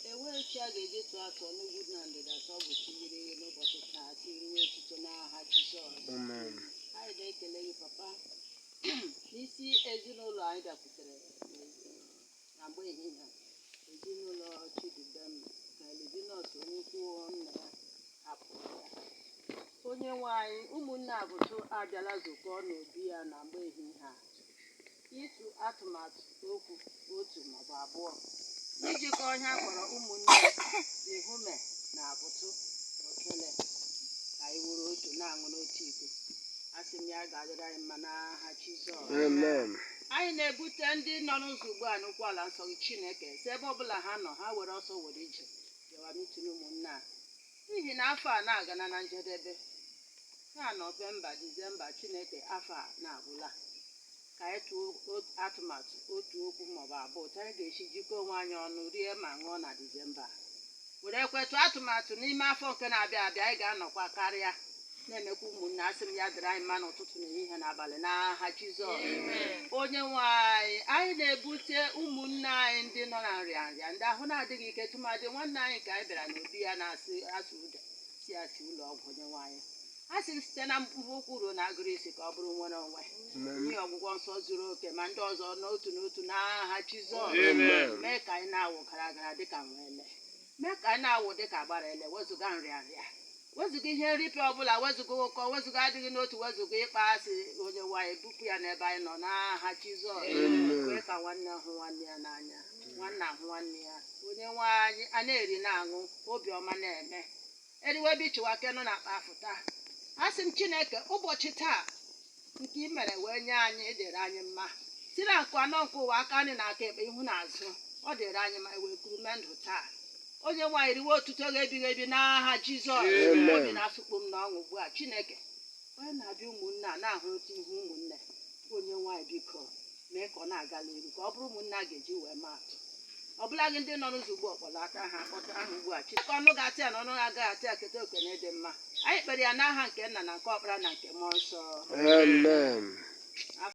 e nwee chi a ga-eji tụọ atụ n'ugwu na ndịda ka ọ bụ chi yiri ihe n'ụbọchị taa chi ruo echiche n'aha Jizọs Amen. anyị na-ekele gị papa n'isi ezinụlọ anyị bịakwutere na mgbe ehihie a ezinụlọ Chidubem na Livinus Onyeukwu nna ya hapụrụ ya onye nwe anyị ụmụnne Avutu abịala zukọ n'obi ya na mgbe ehihie a ịtụ atụmatụ okwu otu maọbụ abụọ ijikọ ihe a kpọrọ ụmụnne Ehume na Avutu na okele ka anyị wụrụ otu na-aṅụ n'otu iko asị m ya ga-adịrị anyị mma n'aha Jizọs Amen. anyị na-ebute ndị nọ n'ụzọ ugbu a n'ụkwụ ala nsọ gị chineke sị ebe ọbụla ha nọ ha were ọsọ were ije bịawa meeting ụmụnna a. N'ihi na afọ a na-agana na njedebe, taa Nọvemba, Disemba, Chineke afọ a na-agwụla. Ka anyị tụọ o- atụmatụ otu okwu maọbụ abụọ otu anyị ga-esi jikọọ onwe anyị ọnụ rie ma ṅụọ na Disemba a. Werekwe tụọ atụmatụ n'ime afọ nke na-abịa abịa anyị ga-anọkwa karịa na-emekwa ụmụnne asị m ya dịrị anyị mma n'ụtụtụ na ehihie na abalị n'aha jizọs onye nwe anyị anyị na-ebute ụmụnne anyị ndị nọ na nrịa nrịa ndị ahụ na-adịghị ike tụmadị nwanne anyị ka anyị bịara n'obi ya na-asị asụ ụda si asị ụlọ ọgwụ onye nwe anyị a sị m site na mkpụrụ ụkwụ ruo na agịrị isi ka ọ bụrụ nwere onwe nye ọgwụgwọ nsọ zuru oke ma ndị ọzọ n'otu n'otu n'aha jizọs Amen. mee ka anyị na-awụ gara gara dịka nwa ele Mee ka anyị na-awụ dị ka agbara ele, wezụga nrịanrịa, wezụga ihe nripịa ọbụla, wezụga ụkọ, wezụga adịghị n'otu, wezụga ịkpa asị, Onyenwe anyị, bupụ ya n'ebe anyị nọ n'aha Jizọs. Amen. Kwee ka nwanne hụ nwanne ya n'anya, nwanna hụ nwanne ya. Onyenwe anyị, a na-eri na-aṅụ, obiọma na-eme. eriwe bichiwa nke nọ n'akpa afụta asị m chineke ụbọchị taa nke i mere wee nye anyị dịrị anyị mma si na nkụ anọ nke ụwa aka nri na aka ekpe ihu na azụ ọ dịrị anyị mma wee kuru ume ndụ taa onye nwe anyị riwe otuto gị ebighị ebi n'aha jizọs Amen. obi na-asụkpụ m n'ọṅụ ugbu a chineke onye na-abịa ụmụnne a na-ahụrịta ihu ụmụnne onye nwe anyị biko mee ka ọ na-aga n'iru ka ọ bụrụ ụmụnne a ga-eji wee maa atụ ọ bụla gị ndị nọ n'ụzọ ugbu a kpọlata ha akpọta ha ugbu a chineke ọnụ ga-ata ya na ọnụ agaghị ata ya keta oke na ịdị mma anyị kpere ya n'aha nke nna na nke ọkpara na nke mmụọ nsọ Amen.